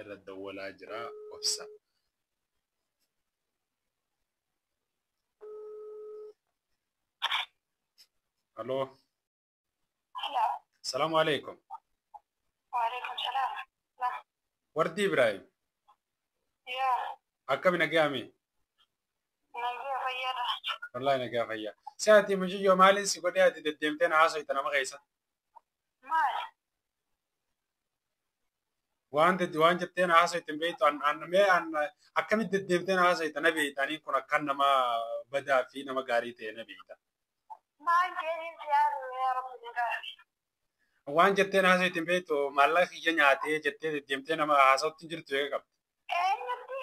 irra dawwalaa jira obsa. Halo. Salaamu alaikum. Waalaikum salaam. Wardi Ibrahim. Yaa, Akkami nagayaami? nagaa fayyaadha. Wallahi nagaa fayyaa. Si ati mucayyoo maaliin si godhee ati deddeemtee na haasofta nama keessa? Maal? waan dedde waan jetteen haasofte beektu an an mee an akkamitti deddeemteen haasofte na beekta ani kun akkan nama badaa fi nama gaarii ta'e na beekta. Maal jedhin si haasofte yaa rabbi na gaafii. Waan jetteen haasofte beektu maallaqa kiyya nyaatee jettee deddeemtee nama haasofti jirtu eega qabdi. Eenyutti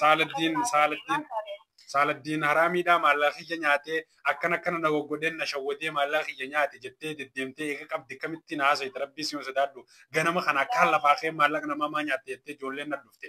Saaladdiin Saaladdiin Saaladdiin haraamiidhaa maallaqa kiyya nyaatee akkan akkana na goggodheen na shawwadee maallaqa kiyya nyaate jettee deddeemtee eega qabdi akkamittiin haasofte rabbii siima sodaadhu ganama kana akkaan lafaa kee maallaqa namaa maa nyaatte jettee ijoolleen na dhufte.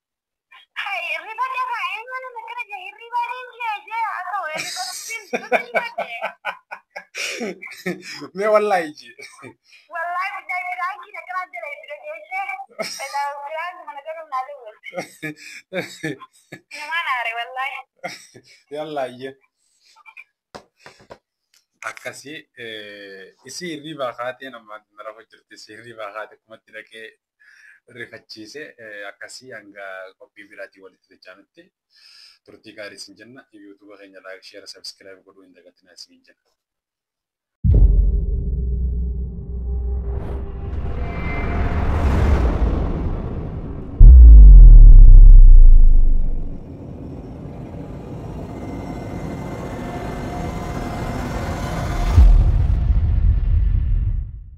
Mee wallaahi iji. Yallaa iyye. Akkasii isii hirriibaa kaatee nama na rafa jirti isii hirriibaa kaate kumatti dhaqee rifachiise akkasii hanga qophii biraatiin walitti dachaanutti turtii gaarii isin jenna yuutuuba keenya laayik sheera sabiskiraayib godhuu hin dagatinaa isin jenna.